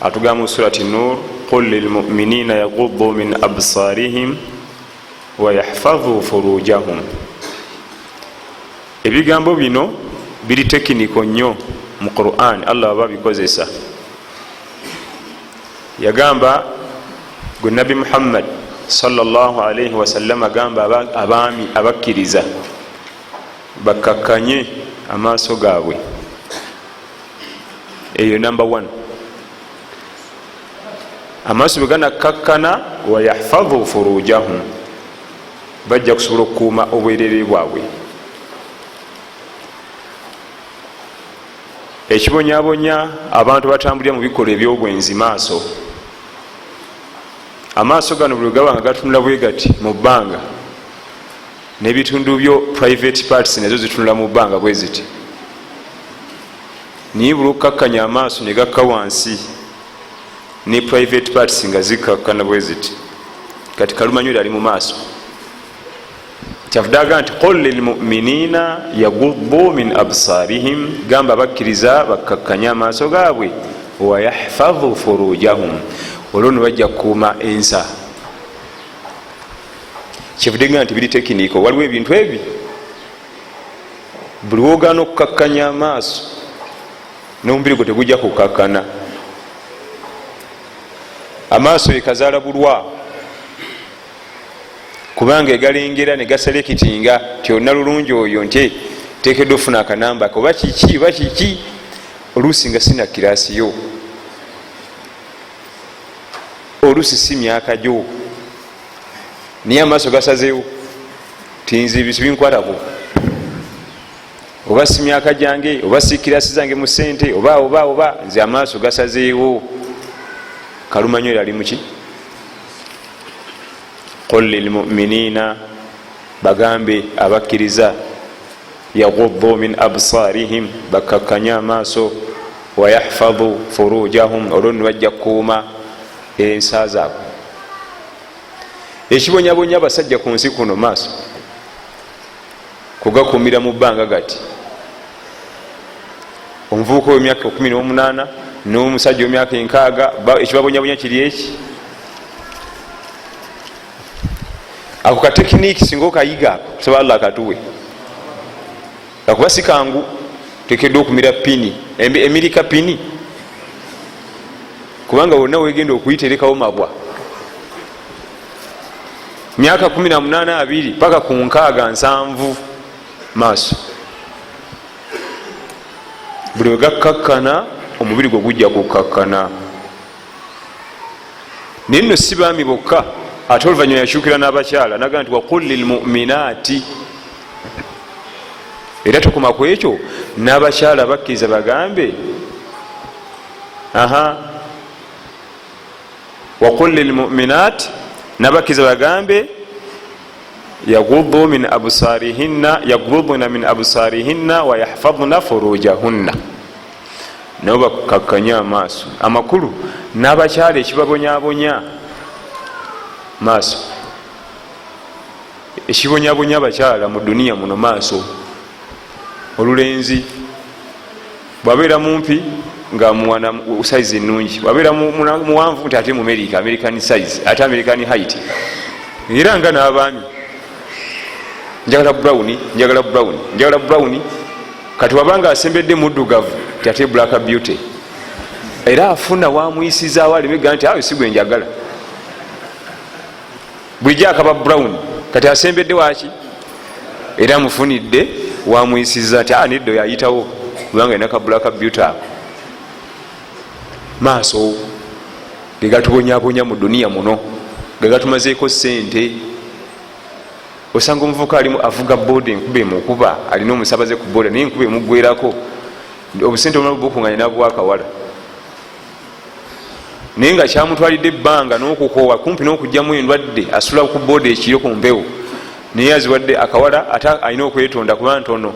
atugamba musurati nur qul lilmuminina yagudu min absarihim wayahfadhu furujahum ebigambo bino biri tekiniko nnyo mu quran allah aba bikozesa yagamba gwe nabi muhammad salllahalaihi wasallam agamba abaami abakkiriza bakkakkanye amaaso gaabwe eyo number one amaaso bweganakkakkana wayahfadhu furujahum bajja kusobola okukuuma obwerere bwabwe ekibonyabonya abantu batambulira mu bikolwa ebyobwenzi maaso amaaso gano buli gaba nga gatunula bwe gati mu bbanga nebitundu byo private parts nazo zitunula mu bbanga bwe ziti naye buli okukakkanya amaaso ne gakka wansi ne private parts nga zikkakkana bwe ziti kati kalumanyweri ali mu maaso kyavudaga nti qul lilmuminina yagubu min absarihim gamba bakkiriza bakkakkanye amaaso gaabwe wayahfadhu furujahum olwo ne bajja kukuuma ensa kyevude nga nti biri tekiniko waliwo ebintu ebi buli wogaana okukakkanya amaaso nomubiri gwe tegujja kukakkana amaaso ekazaala bulwa kubanga egalengera negaselekitinga ti olina lulungi oyo nti tekedwa ofuna akanamba oba kiki oba kiki oluusi nga sina kirasi yo olusi si myaka gyo naye amaaso gasazewo tinzi bisu binkwatako oba si myaka gyange oba si kirasi zange mu sente oba oba oba nze amaaso gasazeewo kalumanyo yali muki qul lilmuminina bagambe abakkiriza yagudu min absarihim bakakkanye amaaso wayahfadu furujahum olwo nno bajja kukuuma ensa zaabwe ekibonyabonya abasajja ku nsi kuno maaso kugakuumira mu bbanga gati omuvubuka wemyaka 18 n'omusajja wemyaka enkaaga ekibabonyabonya kiri eki ako ka tekiniki singa okayiga ako kusaba allah akatuwe akuba sikangu tekedwa okumira pini emirika pini kubanga wonna wegenda okuyiterekawo mabwa myaka 18 paka ku nkaaga nsanvu maaso buli wegakkakkana omubiri gwe gujja kukkakkana naye nno si baami bokka ate oluvanyuma yakyukira n'abakyala naga nti waqul lilmuminaati era tokoma ku ekyo n'abakyala bakkiriza bagambe aha waqul lilmuminaati nabakkiriza bagambe yaguduna min absarihinna wayahfadna furujahunna nabo bakakkanye amaaso amakulu n'abakyala ekibabonyabonya maaso ekibonyabonya abakyala mu duniya muno maaso olulenzi bwabeera mumpi nga mwana size ennungi bwabeera muwanvu nti ate mumerika american size ate american height era nga n'abaami njagala brown njagala brown njagala brown kati waba nga asembedde muddugavu tyate black beauty era afuna wamuyisizaawo alimega nti awe sigwe njagala bulijjo akaba brown kati asembedde waki era amufunidde wamuyisiza nti aniddo ah, yayitawo kubanga enaka black beauty ako maaso gegatubonyabonya mu duniya muno gegatumazeeko sente osanga omuvuka alimu avuga boda enkuba emukuba alina omusabaze ku boda naye enkuba emugwerako obusente omala bukunganya nabuwa akawala naye nga kyamutwalidde ebbanga nokukoowa kumpi nokugjamu endwadde asula ku boda ekiro ku mpewo naye aziwadde akawala ate alina okwetonda kuba ntono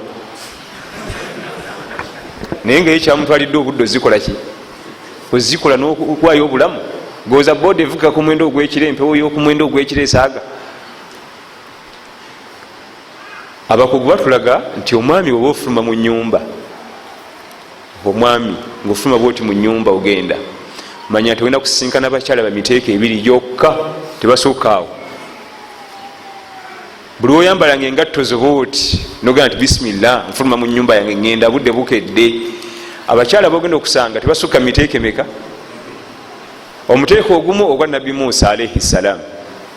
naye nga ye kyamutwalidde obudde ozikolaki ozikola nokuwayo obulamu goza boda evuga ku mwendo ogwekiro empewo yokumwendo ogwekiro esaaga abakugu batulaga nti omwami oba ofuluma mu nyumba omwami ngaofuluma bwoti mu nyumba ogenda manya nti ogenda kusinkana bakyala bamiteeka ebiri gyokka tebasukaawo buli woyambala nga engatto zobooti nogenda nti bisimillah nfuluma mu nyumba yange ngenda budde bukedde abakyala bogenda okusanga tebasukka miteekemeka omuteeko ogumu ogwa nabbi musa alaihi ssalaamu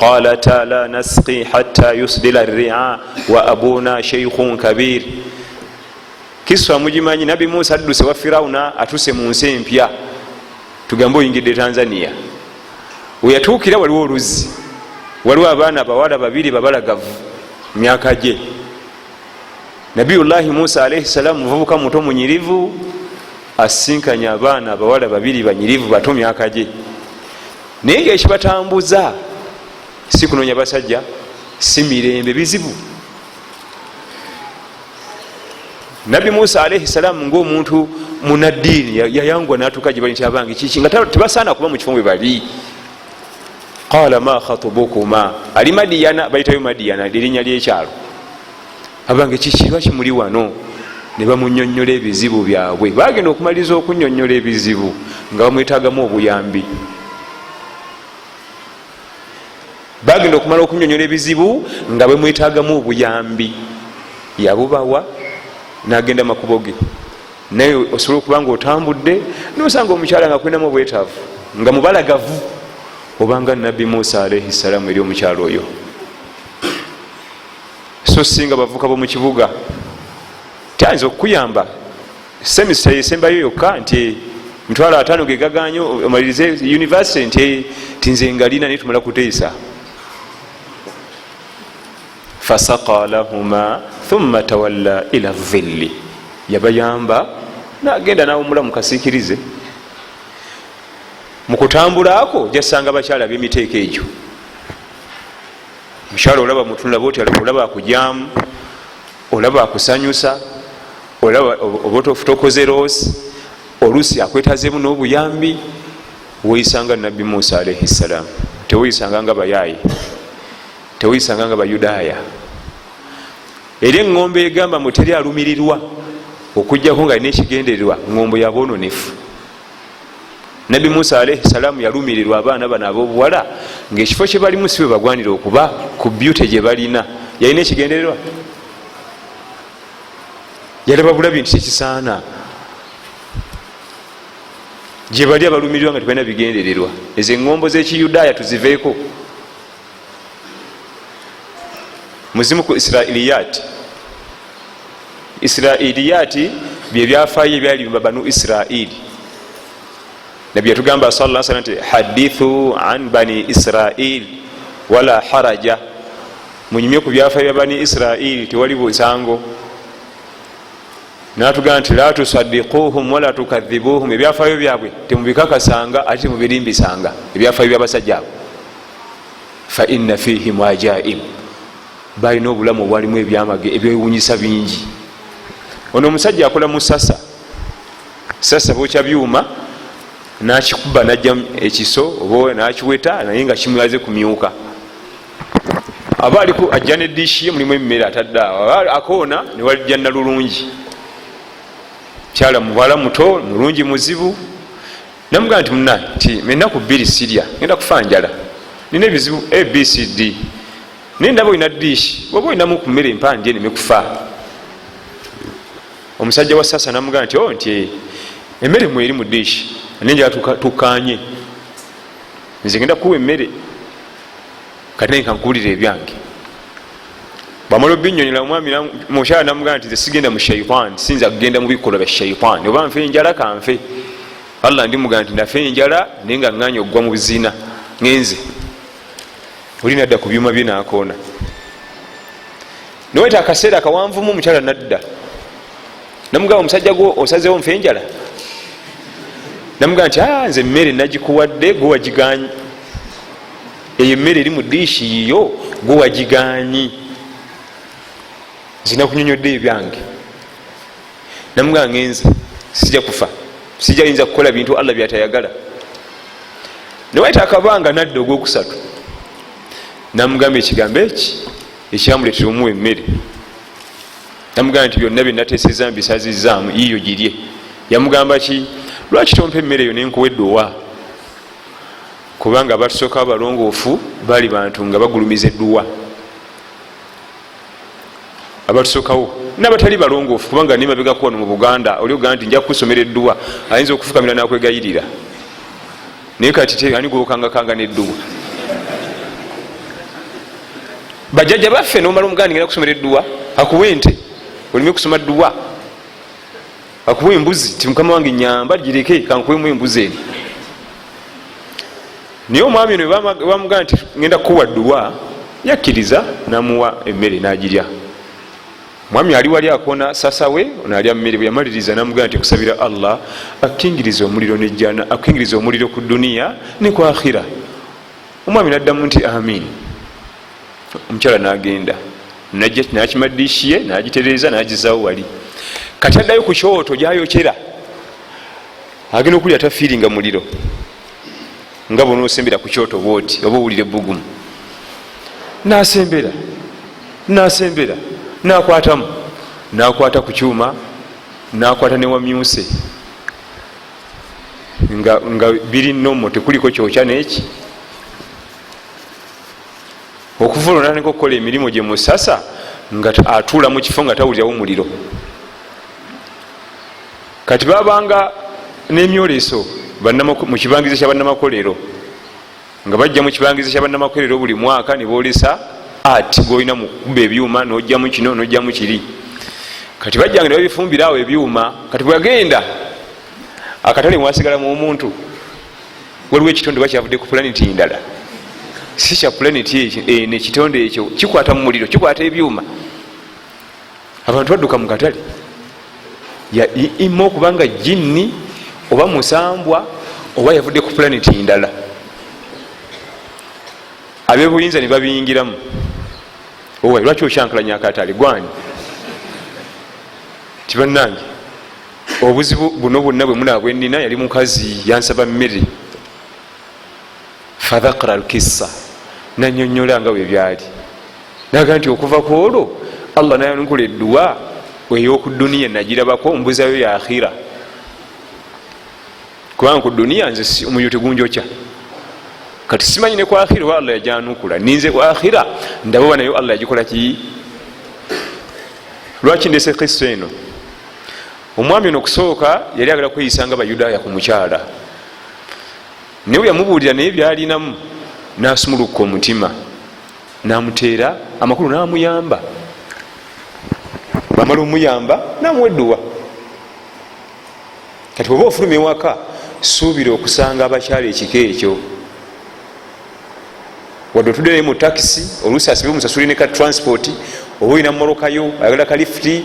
qalata la nasqi hatta yusdila ria wa abuna sheikhun kabir kiswa mugimanyi nabi musa adduse wa firawuna atuse mu nsi empya tugambe oyingidde tanzania weyatuukira waliwo oluzzi waliwo abaana abawala babiri babalagavu myaka gye nabiyullahi musa alaihi salaamu muvubuka muto munyirivu asinkanye abaana abawala babiri banyirivu bato myaka gye naye nga ekibatambuza si kunonya basajja si mirembe bizibu nabbi musa alaihi salaamu ngaomuntu munaddiini yayangwa natuuka gyebali nti abange kiki nga tebasaana kuba mu kifo mwe bali qala ma khatubukuma ali madiyana bayitayo madiyana lirinnya lyekyalo abange kiki lwaki muli wano ne bamunyonyola ebizibu byabwe bagenda okumaliriza okunyonyola ebizibu nga bamwetagamu obuyambi bagenda okumala okunyonyola ebizibu nga bamwetagamu obuyambi yabubawa nagenda makubo ge naye osobola okuba nga otambudde nosanga omukyala nga kulinamu obwetaavu nga mubalagavu obanga nabbi musa alaihi salaamu eri omukyala oyo so singa bavuka bomu kibuga tayinza okukuyamba semisa esembayo yokka nti mitwalo ataano gegaganyo omalirize univesity nti tinze ngalina naye tumala kuteesa fasaka lahuma thumma tawalla ila dhilli yabayamba nagenda nawumula mukasikirize mukutambula ako jasanga bakyala bemiteeko egyo omukyala olaba mutunula bwoti olaba akujamu olaba akusanyusa olaba obotofutokoze roosi oluusi akwetazemu n'obuyambi weyisanga nabbi musa alaihi ssalaamu teweyisanga nga bayaaye teweyisanga nga bayudaaya era eŋŋombo egamba muteri alumirirwa okujjako nga alina ekigendererwa ŋŋombo yaboononefu nabbi musa alaihi salaamu yalumirirwa abaana bano abobuwala ngaekifo kyebalimu si bwebagwanira okuba ku byute gyebalina yalina ekigendererwa yalaba bulabi nti kyekisaana gyebali abalumirirwa nga tebalina bigendererwa ezo eŋombo zekiyudaaya tuziveeko muzimu ku israiliyati israiliyati byebyafayo ebyali bimba banu israili nabbi yatugamba sa la salam nti hadithu an bani israil wala haraja munyumye ku byafayo bya bani israili tewali busango natugamba nti la tusadikuhum wala tukadhibuhum ebyafayo byabwe temubikakasanga ate temubirimbisanga ebyafayo byabasajja abo faina fihi muajaib balina obulamu obwalimu ebyamage ebyewunyisa bingi ono omusajja akola musasa sasa bokya byuma nakikuba najja ekiso oba nakiweta naye nga kimulaze kumyuka aba aliku ajja ne dishi ye mulimu emmere atadde awo akoona newalijja nalulungi kyala muwala muto mulungi muzibu namugaa nti muna nti enaku bbiri sirya genda kufa njala nina ebizibu abcd naye ndaba olina dish oba olinamu ku mmere empandi eneme kufa omusajja wa sasa namugaa nti o oh, nti eh, emmere mweri mu dish nenjala tukanye nze genda kuwa emmere kati naye kankuwulira ebyange bwamala obinyonyola omwami mukyala namugamba nti sigenda mu shaitan sinza kugenda mu bikolwa bya shaitan oba nfe enjala kanfe allah ndimugamba nti nafe enjala naye nga nganya okugwa mu buzina ngenze oli nadda ku byuma bye nakoona noweta akaseera kawanvumu omukyala nadda namugamba omusajja gwo osazewo nfe enjala namugamba nti ah, nze emmere nagikuwadde gwe wagiganye eyo emmere eri mu diishi yiyo gwe wagiganyi nzina kunyonyodde ebyange namugaa ngenze sija kufa sija yinza kukola bintu allah byatayagala newayita akabanga nadda ogwokusatu namugamba ekigambo eki ekyamuletera omuwa emmere namugamba nti byonna byenateseza mbisazizaamu yiyo girye yamugamba ki lwaki tompa emmere eyo nenkuwa eddowa kubanga abatusooka abalongoofu baali bantu nga bagulumiza edduwa abatusokawo nabatali balongoofu kubanga nimabegako wano mu buganda oli ogaa nti nja kusomera edduwa ayinza okufukamira nakwegayirira naye kati ani gwokangakanga nedduwa bajajja baffe nomala omuganda ngenda kusomera edduwa akuwa ente olime kusoma dduwa akuwa embuzi ti mukama wange nyamba gireke kankuwemu embuzi eno naye omwami ono bamugamba nti ngenda kukuwa duwa yakkiriza namuwa emmere nagirya mwami ali wali akona sasawe onalya mmere bweyamaliriza namugamba nti kusabira allah akingiriza omuliro nejjana akingiriza omuliro ku duniya ne ku akhira omwami naddamu nti amin omukyala nagenda nakima dishi ye nagitereeza nagizawo wali kati addayo ku kyoto gyayokera agenda okulya tafiiringa muliro nga bona osembera ku kyoto bwoti oba owulira ebbugumu nasembera nasembera nakwatamu nakwata ku kyuma nakwata newamyuse nga biri nomo tekuliko kyokya neki okuvula natandika okukola emirimu gye musasa nga atuula mu kifo nga tawulirawo muliro kati babanga n'emyoleso mu kibangizo kya bannamakolero nga bajja mu kibangizo kya bannamakolero buli mwaka ne boolesa ati golina mukuba ebyuma nojjamu kino nojjamu kiri kati bajjanga ne babifumbira awo ebyuma kati bweyagenda akatale mwasigala mu omuntu waliwo ekitonde oba kyavudde ku pulaneti ndala si kya pulaneti eh, nekitonde ekyo kikwata mu muliro kikwata ebyuma abantu badduka mu katale ima okubanga jinni oba musambwa oba yavudde ku pulaneti ndala abebuyinza ne babiyingiramu owa lwaki okyankalanya akatale gwani tibanange obuzibu buno bwonna bwemuna bwenina yali mukazi yansaba mmere fadhakra alkissa nanyonyola nga bwebyali naga nti okuva ku olwo allah nayanukula edduwa eyoku duniya nagirabako mbuzayo ya akhira kubanga ku duniya nze omuliro tegunjokya kati simanyi ne ku akhira oba allah yajanukula ninze ku akhira ndaba oba nayo allah yagikolaki lwaki ndese kissa eno omwami ono okusooka yali agala kweyisa nga bayudaaya ku mukyala naye weyamubuulira naye byalinamu nasumulukka omutima namuteera amakulu namuyamba bamala omuyamba namuweduwa kati oba ofuluma ewaka suubira okusanga abakyala ekika ekyo wadde otudde naye mu takisi oluusi asibe omusasuli ne ka transport oba olina mumolokayo ayagala ka lifuti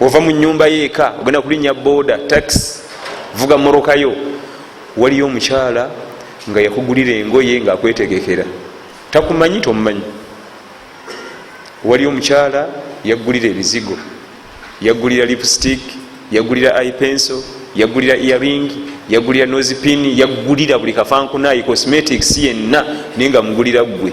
ova mu nyumba yo eka ogenda kulinya boda tax vuga moroka yo waliyo omukyala nga yakugulira engoye nga akwetegekera takumanyi tomumanyi waliyo omukyala yagulira ebizigo yagulira lipstick yagulira ipenso yagulira earing yagulira nozipin yagulira buli kafankunayi cosmetics yenna naye nga mugulira ggwe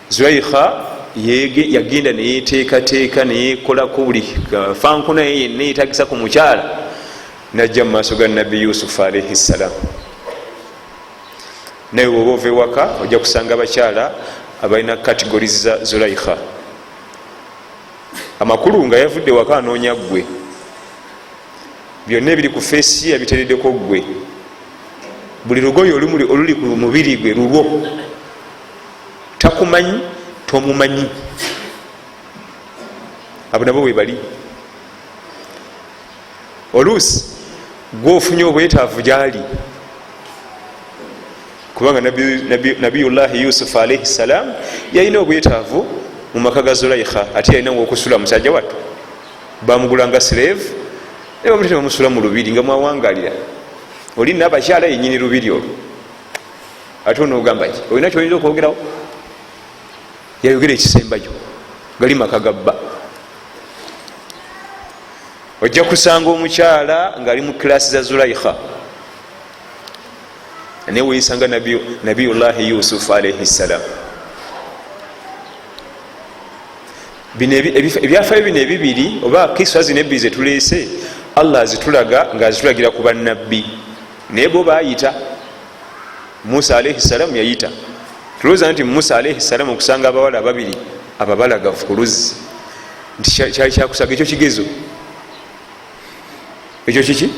zulaikha yagenda neyeteekateeka neyekolako buli fankuna ye yenna yetagisa ku mukyala najja mu maaso ga nabbi yusufu alaihi ssalaamu naye woba ova ewaka ojja kusanga abakyala abalina kategori za zulaikha amakulu nga yavudde waka anoonya ggwe byonna ebiri ku feesi ye yabiteredeko ggwe buli lugoye oluli ku mubiri gwe lulwo takumanyi tomumanyi abo nabo webali oluusi gwofunye obwetaavu gyali kubanga nabiyullahi yusuf alaihi ssalam yalina obwetaavu mu maka ga zulaikha ate yalina wokusula musajja wattu bamugulanga slave nebamutebamusula mu lubiri nga mwawangalira oli nabakyala yenyini lubiri olwo ate onogamba ki olina kyoyinza okwogerawo yayogera ekisembayo gali maka gabba ojja kusanga omukyala ngaali mu kilasi za zulaikha naye weyisanga nabiyullahi yusufu alaihi ssalam ebyafayo bino ebibiri oba kisa zino ebbiri zetuleese allah azitulaga ngaazitulagira ku bannabbi naye bo bayita musa alaihi salamu yayita tulowooza nti musa alaihi salamu okusanga abawala ababiri ababalagavu ku luzzi nti kyali kyakusaga ekyo kigezo ekyo kiki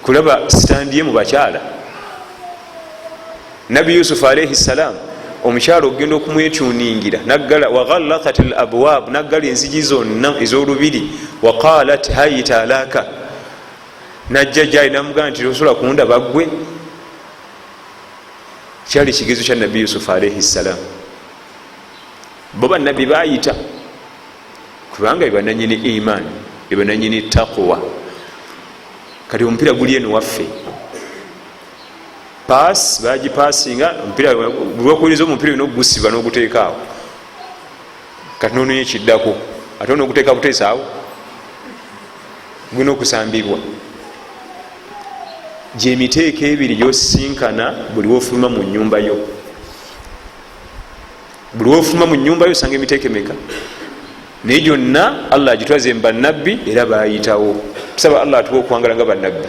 kulaba sitandiye mu bakyala nabi yusufu alaihi salamu omukyalo okugenda okumwetuningira nagala waghallakat l abwab naggala enzigi zonna ez'olubiri waqalat hayita alaka najja gyali namugamba nti osobola kundaba gwe kyali kigezo kya nabbi yusufu alaihi ssalaamu bo banabbi bayita kubanga bebananyini iman bebananyini takuwa kati omupiira guli eno waffe pass bagipasinga omupiira lwokuyiriza omupiira olina okugusiba n'oguteekaawo kati nononya ekiddako ate ona okuteeka buteesaawo gulina okusambibwa gyemiteeko ebiri gyosisinkana buli wofuluma mu nyumba yo buli wofuluma mu nyumba yo osanga emiteeko emeka naye gyonna allah agitwaze mu bannabbi era bayitawo tusaba allah atuwa okuwangala nga bannabbi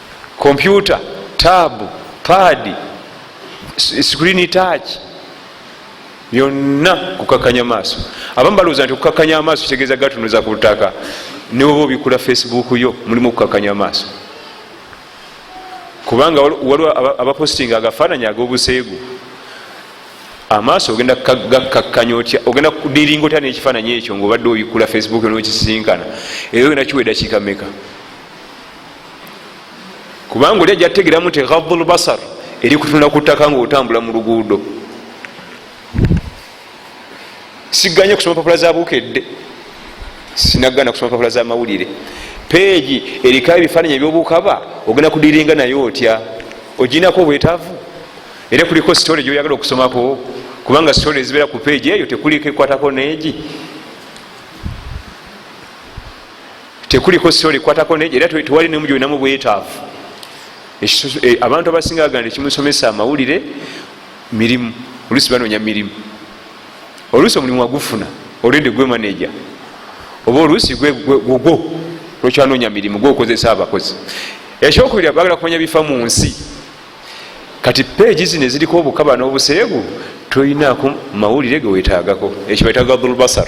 kompyuta taabu paadi sikulini taaki byonna kukakanya maaso abamu balowooza nti okukakanya amaaso kitegeeza gatunuza ku ttaka newoba obikula facebook yo mulimu okukakanya amaaso kubanga waliwo abapostinga agafaananyi ag'obuseegu amaaso ogenda gakkakkanya otya ogenda kudiringa otya nekifaananyi ekyo ngaobadde obikkula facebook nokisinkana era ogenda kiwa edakiika meka kubanga oli ajja kutegeramu nti ghaddu lbasar eri kutunula ku ttaka ngaotambula mu luguudo siganye kusoma papula za bukedde sinagana kusoma papula za mawulire peegi eriko ebifaananyi ebyobukaba ogenda kudiringa naye otya oginako obwetaavu era kuliko sitole gyoyagala okusomako kubanga sitole ezibeera ku peegi eyo tekuliko ekwatako neegi tekuliko soli kwatako neje era tewali nemu gyolinamu bwetaavu e, abantu abasinga baganda ekimusomesa amawulire mirimu oluusi banoonya mirimu oluusi omulimu wagufuna olwende gwe maneja oba oluusi gwogwo lwekyanoonya mirimu gwokozesa abakozi ekyokubiri bagala kumanya bifa mu nsi kati peegi zino eziriko obukaba n'obuseegu tolinaku mawulire gewetaagako ekyo betaga dhulbasar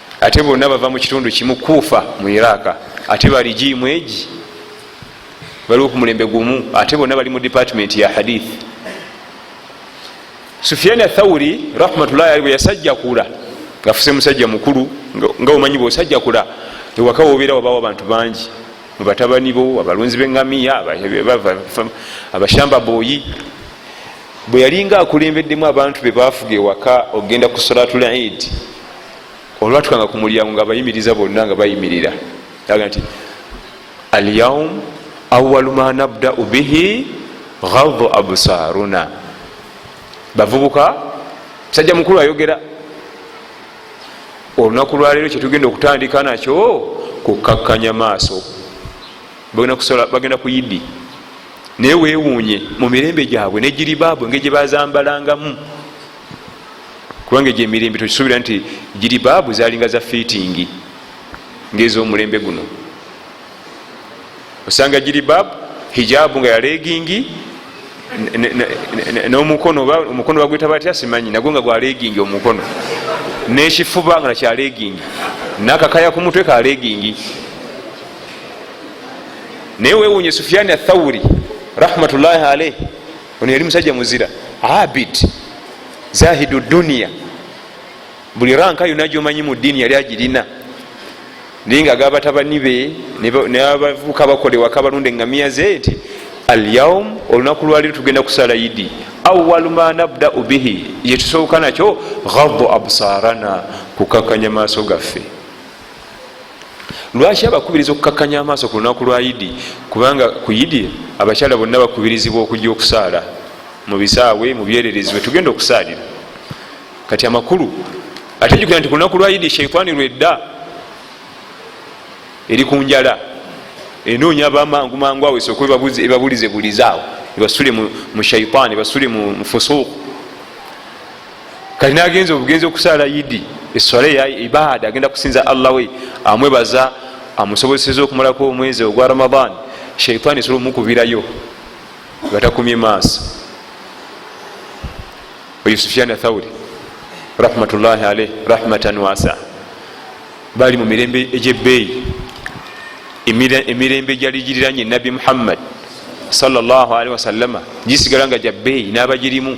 ate bonna bava mu kitundu kimu kuufa mu iraka ate bali jiimu egi baliwo ku mulembe gumu ate bonna bali mu department ya hadith sufiani athauri rahmatullahi ali bwe yasajjakula ngafuse musajja mukulu nga omanyi bwosajjakula ewaka wobeera wabawo abantu bangi mubatabani bo abalunzi bengamiya abashamba boyi bwe yalinga akulembeddemu abantu be bafuga ewaka okugenda ku solatulaidi olwatukanga ku mulyango nga bayimiriza bonna nga bayimirira aga nti alyaum awalu ma nabdau bihi gadu absaruna bavubuka musajja mukulu ayogera olunaku lwaleero kyetugenda okutandika nakyo kukkakkanya maaso bagenda ku idi naye wewuunye mu mirembe gyabwe negiribaabwe nge gyebazambalangamu kubanga egyo emirembe tokisuubira nti giri baabu zalinga za fiitingi ngaezomulembe guno osanga giri baabu hijaabu nga yalegingi nomukono omukono bagweta batya simanyi nagwo nga gwalegingi omukono nekifuba nga nakyalegingi nakakaya ku mutwe kalegingi naye wewunye sufiani athawuri rahmatullahi alaihi ono yali musajja muzira abid zahidu duniya buli ranka yona gyomanyi mu ddiini yali agirina naye nga agabatabani be nabavuka bakola ewaka balunda engamiya ze nti alyaum olunaku lwaliro tugenda kusala idi awalu ma nabdau bihi yetusooka nakyo gadu absarana kukakanya maaso gaffe lwaki abakubiriza okukakkanya amaaso ku lunaku lwa idi kubanga ku idi abakyala bonna bakubirizibwa okujja okusaala mu bisaawe mu byererezi wetugenda okusaalira kati amakulu ate jukira nti ku lunaku lwa idi sheitaani lwedda eri ku njala enoonya bamangu mangu awo esooka ebabulize bulizaawo ebasule mu shaitaani ebasule mu fusuuku kati nagenza obugenzi okusaala idi eswala eya ibaada agenda kusinza allah we amwebaza amusobozeseza okumalako omwezi ogwa ramadan shaitan esobola omukubirayo nga takumye maaso oyo sufyani athauri rahmatullahi alaih rahmatan wasa bali mu mirembe egyebbeeyi emirembe gyali giriranye nabbi muhammad salllahalihi wasallama gisigala nga gyabbeeyi n'abagirimu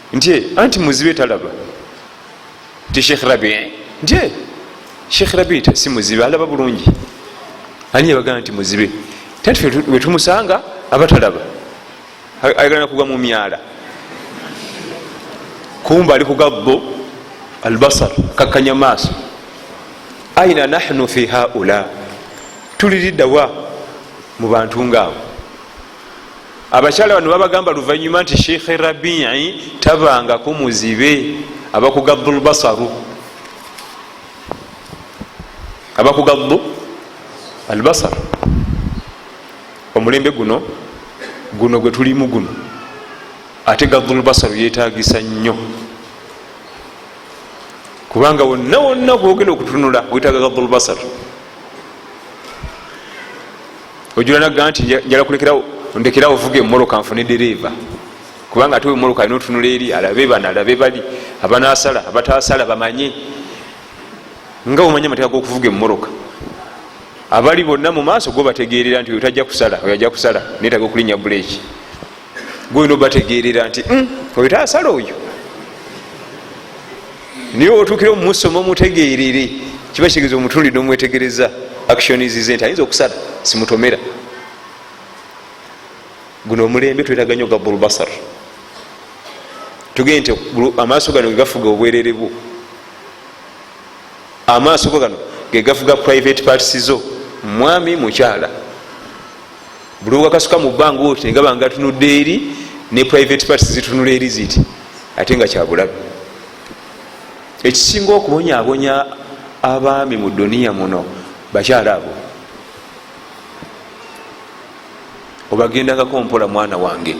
nti anti muzibe talaba nti sheikh rabi nti sheikh rabi si muzibe alaba bulungi ani yabagamba nti muzibe tati wetumusanga aba talaba ayagala nakugwa mu myala kumba ali kugabbo albasar kakkanya maaso aina nahnu fi haula tuliriddawa mu bantu ngaabo abakyala bano babagamba luvanyuma nti sheikh rabii tabangako muzibe abakugaddu lbasaru abakugaddu albasar omulembe guno guno gwe tulimu guno ate gaddu lbasaru yetagisa nnyo kubanga wonna wonna kwogenda okutunula wetaga gaddu lbasaru ojula nagga nti njala kulekerawo ndekerawo vuga emoroka nfune dereeva kubanga ate emoroka alina otunula eri alabe bano alabe bali abanasala abatasala bamanye nga omanye amateeka gokuvuga emoroka abali bonna mu maaso gobategeerera nti oyo tajja kusala oyo ajja kusala netaga okulinya buleeki gwoyina obategeerera nti hmm, oyo taasala oyo naye otuukira omumusoma omutegeerere kiba kitegeeza omutundi nomwetegereza actionizze nti ayinza okusala simutomera guno omulembe twetaga nyo gabulbasar tugende nti amaaso gano gegafuga obwerere bwo amaaso go gano gegafuga private parts zo mwami mukyala buli wakasuka mu bbanga otyo engaba nga tunudde eri ne private parts zitunula eri ziti ate nga kyabulabe ekisinga okubonyabonya abaami mu duniya muno bakyala abo obagendangako mpola mwana wange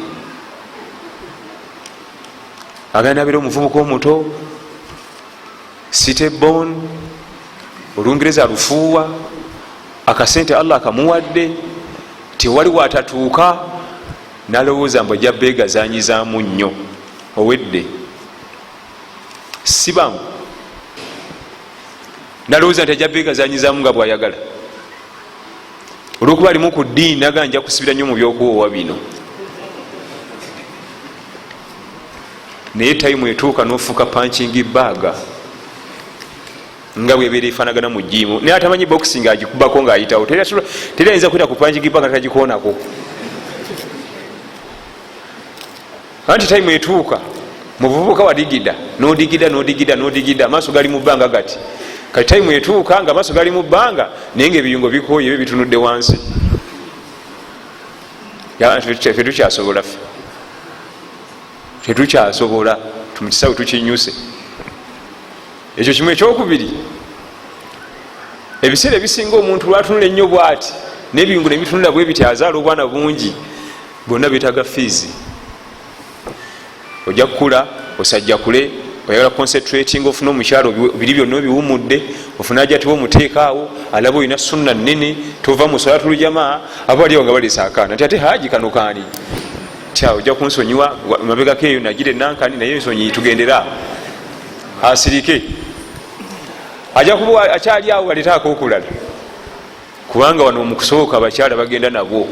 agenda nabera omuvubuka omuto city bon olungereza lufuuwa akasente allah akamuwadde tewali watatuuka nalowooza mbu ajja beegazanyizamu nnyo owedde sibangu nalowooza nti ajja beegazanyizamu nga bwayagala olwokuba alimu ku ddiini naga nja kusibira nnyo mu byokuwoowa bino naye tayimu etuuka nofuuka pankingi baaga nga bwebeera efanagana mu jiimu naye atamanyi boxing agikubako ngaayitawo teri ayinza kwita ku pankingi baaga tagikoonako anti tayimu etuuka muvubuka wadigida nodigida nodigida nodigida amaaso gali mu bbanga gati kati tayimu etuuka nga amaaso gali mu bbanga naye nga ebiyungo bikooyo ebyo bitunudde wansi fetukyasobola fe tetukyasobola tumukisawe tukinyuse ekyo kimu ekyokubiri ebiseera ebisinga omuntu lwatunula ennyo bwati nebiyungu nebitunula bwebityazaala obwana bungi bwonna betaga fiizi ojja kukula osajja kule oyagala concentrating ofuna omukyalo biri byonna obiwumudde ofuna ajatiwa omuteekaawo alaba olina sunna nene tova musolatulujamaa aba aliawo nga balesa akaana nti ate haji kano kaani tya ojja kunsonyiwa mabegako eyo nagire nankani naye nsonyi tugendera asirike aja kuba akyali awo aleta akokulala kubanga wano mukusooka abakyala bagenda nabwo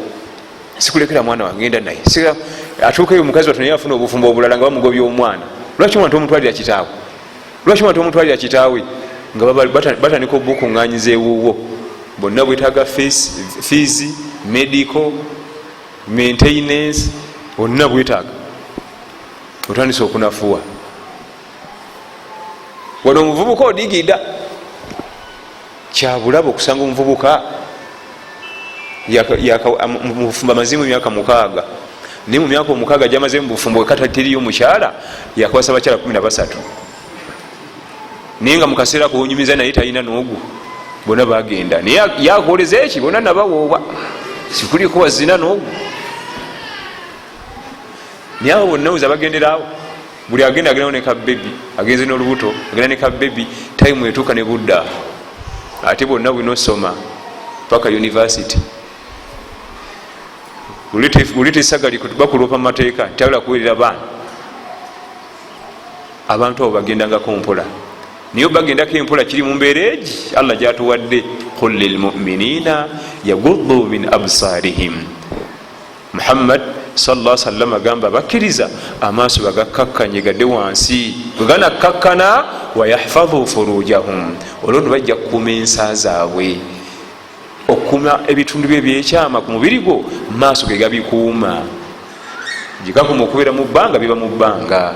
sikulekera mwana wange enda naye atuukeyo mukazi watu naye afuna obufumbo obulala nga bamugobya omwana lwaki omwana tomutwalira kitaawe lwaki omwana tomutwalira kitaawe nga batandika obukunganyiza ewuwo bonna bwetaaga fiizi medical maintenance bonna bwetaaga otandise okunafuwa wano omuvubuka odigida kyabulaba okusanga omuvubuka mubufumbo amazimu emyaka mukaaga naye mu myaka omukaaga gyamaze mu bufumbo wekatatiriyo mukyala yakwasa bakyala kumi nabasatu naye nga mukaseera kuwonyumiza naye talina nogu bona bagenda naye yakoleza eki bona nabawooba sikuliko wazina nogu naye abo bonna oza bagenderawo buli agenda agendawo ne kabebi agenze nolubuto agenda ne kabebi time etuuka ne budda ate bonna bwina osoma paka university uleta esagali bakuloopa mu mateeka tayagala kuwerera baana abantu abo bagendangako mpola naye obagendako empola kiri mu mbeera egi allah gyatuwadde qul lilmuminina yaguddu min absarihim muhammad salla sallam agamba bakkiriza amaaso bagakkakkanye gade wansi bweganakkakkana wayahfadhu furujahum olwono bajja kukuuma ensa zaabwe okukuuma ebitundu bye byekyama ku mubiri gwo maaso ge gabikuuma gyegakuma okubeera mu bbanga biba mu bbanga